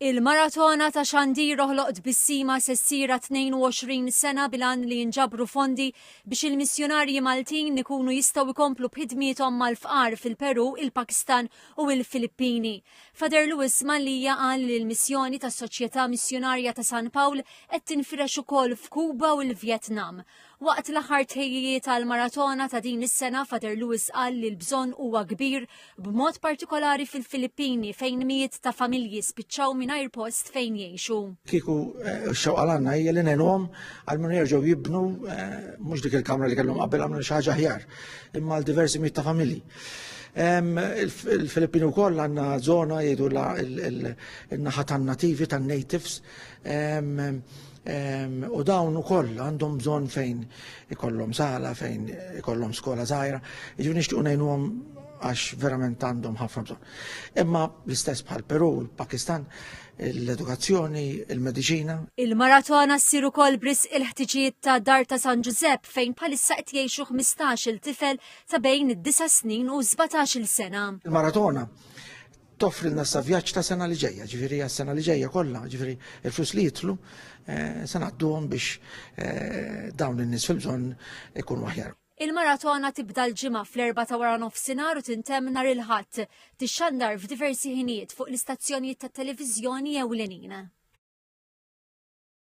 Il-Maratona ta' Xandir Oħloq Tbissima se ssir għat-22 sena bil-għan li jinġabru fondi biex il-missjunarji Maltin ikunu jistgħu jkomplu b'ħidmiethom mal-fqar fil-Perù, il-Pakistan u il-Filippini. Father Louis Mallia qal li l-missjoni tas-Soċjetà Missjunarja ta' San Pawl qed tinfirex ukoll f'Kuba u l-Vjetnam. Waqt l-aħħar tħejjijiet għall-maratona ta' din is-sena Father Lewis qal li l-bżonn huwa kbir b'mod partikolari fil-Filippini fejn mijiet ta' familji spiċċaw mingħajr post fejn jgħixu. Kieku eh, xewqa għandna hija li ngħinuhom għal minn jerġgħu jibnu eh, mhux dik il-kamra li kellhom qabel għamlu xi ħaġa aħjar imma għal diversi mijiet ta' familji. Il-Filippini u koll għanna zona jidu il-naħa tan nativi tan natives u dawn ukoll għandhom bżonn fejn ikollhom sala, fejn ikollhom skola żgħira, jiġu nixtiequ ngħinuhom għax verament għandhom ħafna bżonn. Imma l-istess bħal Peru, il-Pakistan, l-edukazzjoni, il-medicina. Il-maratona ssir ukoll bris il-ħtiġijiet ta' Dar ta' San Ġużepp fejn bħalissa qed jgħixu 15-il tifel ta' bejn id-9 snin u 17-il sena. Il-maratona toffrilna sa vjaġġ ta' sena li ġejja, ġifieri għas sena li ġejja kollha, ġifieri il-flus li jitlu eh, se ngħadduhom biex eh, dawn in-nies fil-bżonn ikunu aħjar. Il-maratona tibda l-ġimgħa fl-erba ta' wara nofsinhar u tintemm nhar il-Ħadd, tixxandar f'diversi ħinijiet fuq l-istazzjonijiet tat-televiżjoni ewlenin.